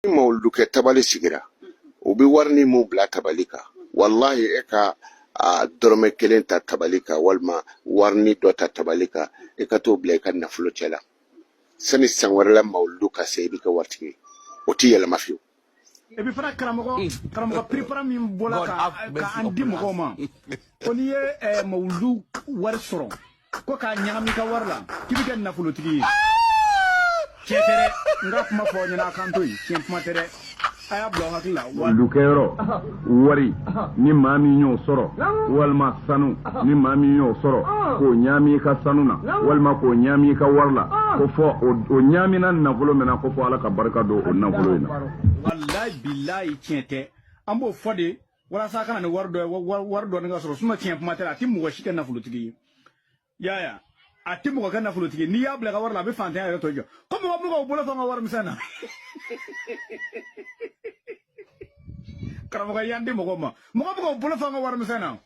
ni mawuludu kɛ tabali sigira u bɛ warinin min bila tabali kan walahi e ka a dɔrɔmɛ kelen ta tabali kan walima warinin dɔ ta tabali kan e ka t'o bila i ka nafolo cɛ la sani san wɛrɛ la mawuludu ka se i bɛ kɛ waritigi ye o tɛ yɛlɛma fiyewu et puis fana karamɔgɔ mm. karamɔgɔ piripara min bɔra ka an di mɔgɔw ma ko n'i ye mawuludu wari sɔrɔ ko k'a ɲagami i ka wari la k'i bɛ kɛ nafolotigi ye tiɲɛ tɛ dɛ n ka kuma fɔ aw ɲɛna a kan to yen tiɲɛ kuma tɛ dɛ a y'a bila aw hakili la mawuludu kɛyɔrɔ wari ni maa min y'o sɔrɔ walima sanu ni maa min y'o sɔrɔ k'o ɲaami i ka sanu na walima k'o ɲaami i ka wari la ko fɔ o ɲaamina nafolo min na ko fɔ ala ka barika don o nafolo in na walayi bilayi tiɲɛ tɛ an b'o fɔ de walasa a ka na ni wari dɔ wari dɔ ka sɔrɔ sinon tiɲɛ kuma tɛ a tɛ mɔgɔ si kɛ nafolotigi ye Yaya a tɛ mɔgɔ kɛ nafolotigi n'i y'a bila i ka wari la a bɛ fantanya yɛrɛ tɔ jɔ ko mɔgɔ bɛ ka bolo fa an ka wari misɛn na karamɔgɔ y'an di mɔgɔ ma mɔgɔ bɛ ka bolo fa an ka wari misɛn na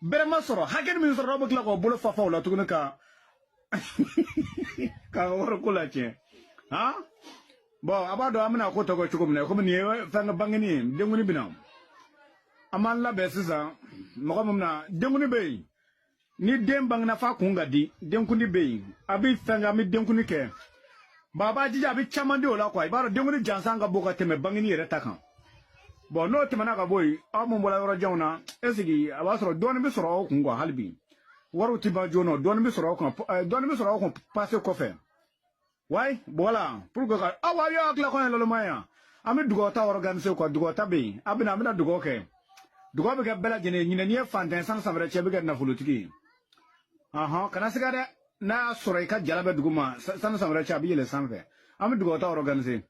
bɛrɛ ma sɔrɔ hakɛ min sɔrɔ aw bɛ tila k'o bolo fa fa o la tuguni ka ka wariko latiɲɛ han bɔn a b'a dɔn an bɛna ko tɔ kɛ cogo min na komi nin ye fɛn ka bangeni ye denkuni bɛ na an b'an labɛn sisan mɔgɔ min bɛna denkuni bɛ yen ni den bangena f'a kun ka di denkuni bɛ yen a bɛ fɛn kɛ an bɛ denkuni kɛ bɔn a b'a jija a bɛ caman di o la kuwa i b'a dɔn denkuni jansa ka bon ka tɛmɛ bangeni yɛrɛ ta kan bɔn n'o tɛmɛna ka bɔ yen aw minnu bɔra yɔrɔ janw na est-ce que a b'a sɔrɔ dɔɔnin bɛ sɔrɔ aw kun kuwa hali bi wariw ti ban joona dɔɔni bɛ sɔrɔ aw kun dɔɔni bɛ sɔrɔ aw kun pase kɔfɛ ouais voilà pour que ka aw aw y'a tila kɔɲɔ lɔlɔma yan an bɛ dugawu ta organiser quoi dugawu ta bɛ yen a bɛna an bɛna dugawu kɛ dugawu bɛ kɛ bɛɛ lajɛlen ɲinɛ n'i ye fantan sani san wɛrɛ cɛ i bɛ kɛ nafolotigi ye ahɔn kana siga dɛ n'a y'a sɔrɔ i ka jala bɛ dugu ma sani san wɛrɛ cɛ a bɛ yɛlɛ sanfɛ an bɛ dugawu ta organiser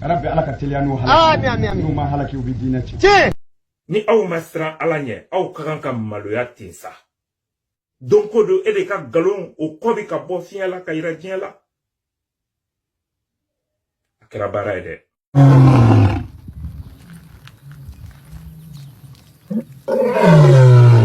Rabbi ala ka teliya n'u halaki. Amin, amin, N'u ma halaki u bɛ diinɛ tiɲɛ. Tiɲɛ. Ni aw ma siran ala ɲɛ aw ka kan ka maloya ten sa don ko don e de ka nkalon o kɔ bɛ ka bɔ fiɲɛ la k'a yira diɲɛ la a kɛra baara ye dɛ Oh.